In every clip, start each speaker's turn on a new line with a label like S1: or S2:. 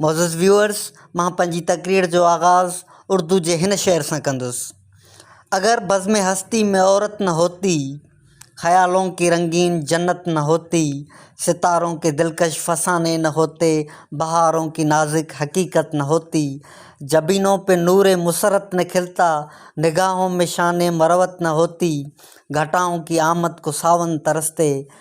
S1: معزز ويوئرز مان پنهنجي تقرير جو آغاز اردو جي هن شعر سان ڪندس اگر بزم هستي ۾ عورت نه هوتي خيالون ڪي رنگين جنت نه هوتي ستارون ڪي دلڪش فساني نه هوتي بهارون ڪي نازڪ حقيقت نه هوتي جبينون پي نور مسرت نه کلتا نگاهون مي شان مروت نه هوتي گهٽائون ڪي آمد ڪو ساون ترستي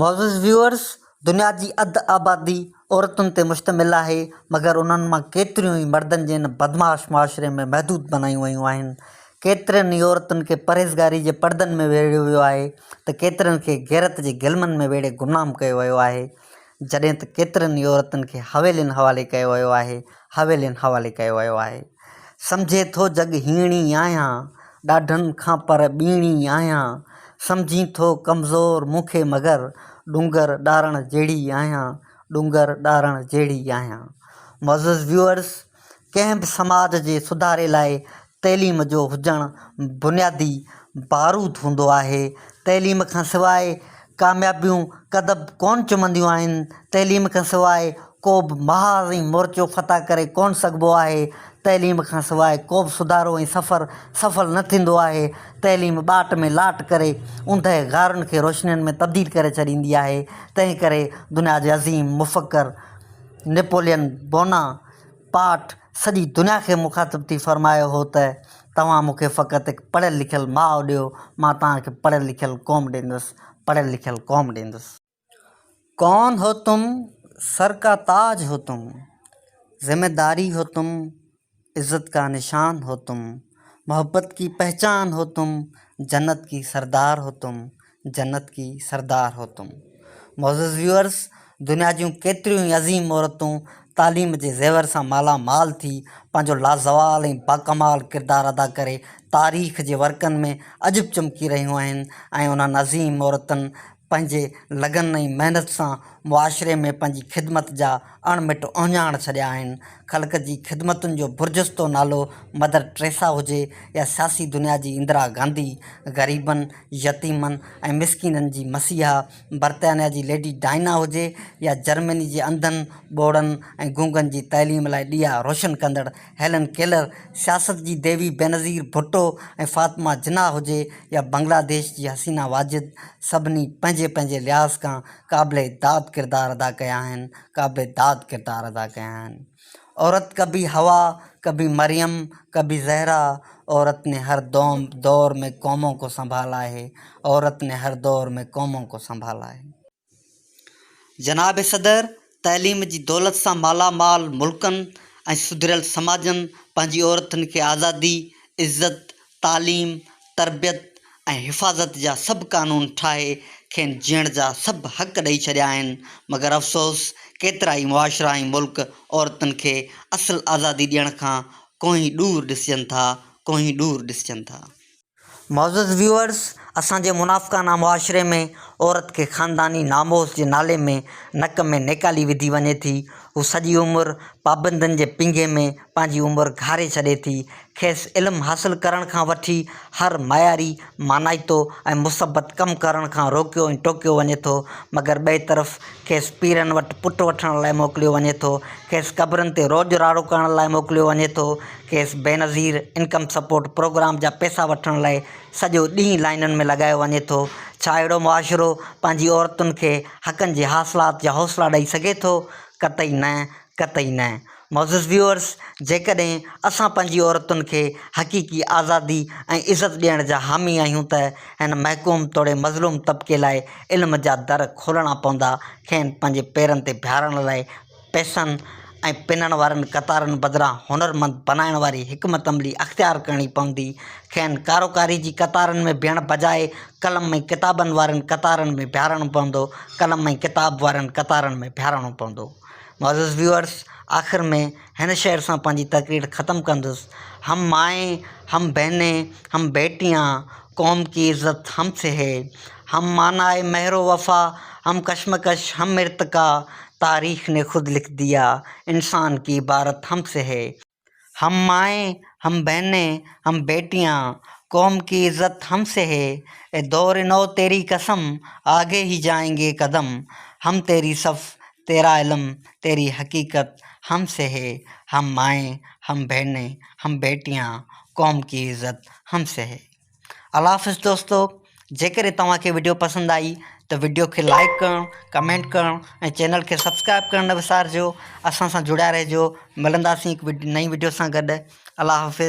S1: معزز ويوئرز دنيا جي اڌ آبادي عورتن تي مشتمل آهي مگر انهن مان ڪيتريون ئي مردن جي ان بدمعاش معاشري ۾ محدود بنايون ويون آهن. ڪيترين ئي عورتن کي پرهيزگاري جي پڙدن ۾ ويڙهيو ويو آهي ته ڪيترين کي غيرت جي گلمن ۾ ويڙهي گمنام ڪيو ويو آهي. جڏهن ته ڪيترن ئي عورتن کي حويلين حوالي ڪيو ويو آهي، حويلين حوالي ڪيو ويو آهي. سمجهين ٿو جڳ هيڻي آهيان، ڏاڍن کان پر ٻيڻي آهيان، سمجهين ٿو ڪمزور مون کي مگر ڏونگر ڏارڻ جهڙي آهيان، ڏونگر ڏارڻ جهڙي آهيان. معزز ويوئرز، ڪنهن به سماج جي سڌاري لاء تعليم جو هجڻ بنيادي باروت هوندو آهي، تعليم کان سواء ڪاميابيون ڪدب ڪونه چمنديون آهن، تعليم کان سواء ڪوبه محاذ ۽ مورچو فتح ڪري ڪونه سگهبو آهي، تعليم کان سواء ڪوبه سڌارو ۽ سفر سڦل نه ٿيندو آهي، تعليم ٻاٽ ۾ لاٽ ڪري اوندهه غارن کي روشنين ۾ تبديل ڪري ڇڏيندي آهي، تنهن ڪري دنيا جي عظيم مفڪر نيپولين بونا پارٽ، سڄي دنيا کي مخاطب ٿي فرمايو هو ته توهان مون کي فقط هڪ پڙهيل لکيل ماء ڏيو، مان توهان کي پڙهيل لکيل قوم ڏيندس، پڙهيل لکيل قوم ڏيندس. ڪون هو تم، سر ڪا تاج هو تم، ذمه داري هو تم، عزت ڪا نشان هو تم، محبت ڪي پهچان هو تم، جنت ڪي سردار هو تم، جنت ڪي سردار هو تم معزز ويورس دنيا جون ڪيتريون ئي عظيم عورتون تعليم جي زيور سان مالا مال ٿي پنهنجو لازوال ۽ باڪمال ڪردار ادا ڪري تاريخ جي ورقن ۾ اڄ به چمڪي رهيون آهن ۽ انهن عظيم عورتن پنهنجي لگن ۽ محنت سان معاشري ۾ پنهنجي خدمت جا اڻ مٽ اهڃاڻ ڇڏيا آهن. خلق جي خدمتن جو برجستو نالو مدر ٽريسا هجي يا سياسي دنيا جي اندرا گانڌي، غريبن، يتيمن ۽ مسڪينن جي مسيحا برطانيا جي ليڊي ڊائنا هجي يا جرمني جي انڌن، ٻوڙن ۽ گونگن جي تعليم لاء ڏيئا روشن ڪندڙ هيلن ڪيلر، سياست جي ديوي بينظير ڀٽو ۽ فاطمه جناح هجي يا بنگلاديش جي حسينا واجد، سڀني پنهنجي پنهنجي لحاظ کان قابل داد ڪردار ادا ڪيا آهن قابل داد ڪردار ادا ڪيا آهن عورت ڪبي حوا ڪبي مريم ڪبي زهرا عورت ني هر دوم دور مي قومون ڪو سنڀالا هي عورت ني هر دور مي قومون ڪو سنڀالا هي جناب صدر تعليم جي دولت سان مالا مال ملڪن ۽ سڌريل سماجن پنهنجي عورتن کي آزادي، عزت، تعليم، تربيت ۽ حفاظت جا سڀ قانون ٺاهي کين جيئڻ جا سڀ حق ڏئي ڇڏيا آهن مگر افسوس ڪيترا ئي معاشرا ۽ ملڪ عورتن کي اصل آزادي ڏيڻ کان ڪوهين ڏور ڏسجن ٿا ڪوهين ڏور ڏسجن ٿا. معزز ويوئرز اسان جي منافقانه معاشري ۾ عورت کي خانداني ناموس جي نالي ۾ نڪ ۾ نيڪالي وڌي وڃي ٿي هو سڄي عمر پابندين جي پينگهي ۾ پنهنجي عمر گهاري ڇڏي ٿي کيس علم حاصل ڪرڻ کان وٺي هر معياري مانائتو ۽ مثبت ڪم ڪرڻ کان روڪيو ۽ ٽوڪيو وڃي ٿو مگر ٻئي طرف کيس پيرن وٽ پٽ وٺڻ لاء موڪليو وڃي ٿو کيس قبرن تي روڄ راڙو ڪرڻ لاء موڪليو وڃي ٿو کيس بينظير انڪم سپورٽ پروگرام جا پئسا وٺڻ لاء سڄو ڏينهن لائينن ۾ لڳايو وڃي ٿو، ڇا اهڙو معاشرو پنهنجي عورتن کي حقن جي حاصلات جا حوصلا ڏئي سگهي ٿو؟ قطعي نه، قطعي نه. معزز ويوئرز جيڪڏهن اسان پنهنجي عورتن کي حقيقي آزادي ۽ عزت ڏيڻ جا حامي آهيون ته هن محڪوم توڙي مظلوم طبقي لاء علم جا در کولڻا پوندا، کين پنهنجي پيرن تي بيهارڻ لاء، پئسن ۽ پنڻ وارين قطارن بدران هنرمند بنائڻ واري حڪمت عملي اختيار ڪرڻي پوندي. کين ڪاروڪاري جي قطارن ۾ بيهڻ بجاء قلم ۽ ڪتابن وارين قطارن ۾ بيهارڻو پوندو. قلم ۽ ڪتاب وارين قطارن ۾ بيهارڻو پوندو. معزز ويوئرز آخر ۾ هن شعر سان پنهنجي تقرير ختم ڪندس، هم مائين، هم بهنين، هم بيٽيان، قوم ڪي عزت هم سي هي، هم مانا هي مهر و وفا، هم ڪشمڪش هم ارتقا، تاريخ ني خود لک ديا، انسان ڪي عبارت هم سي هي. هم مائين، هم بهنين، هم بيٽيان، قوم ڪي عزت هم سي هي، اي دور نو تيري قسم، آگي هي جائين گي قدم، هم تيري صف، تيرا علم، تيري حقيقت هم سي هي، هم مائين، هم بهنين، هم بيٽيان، قوم ڪي عزت هم سهي. الله حافظ دوستو جيڪڏهن توهان کي وڊيو پسند آئي ته وڊيو کي لائڪ ڪرڻ ڪمينٽ ڪرڻ ۽ چينل کي سبسڪرائب ڪرڻ نه وسارجو اسان سان جڙيا رهجو ملنداسين هڪ نئين وڊيو سان گڏ الله حافظ.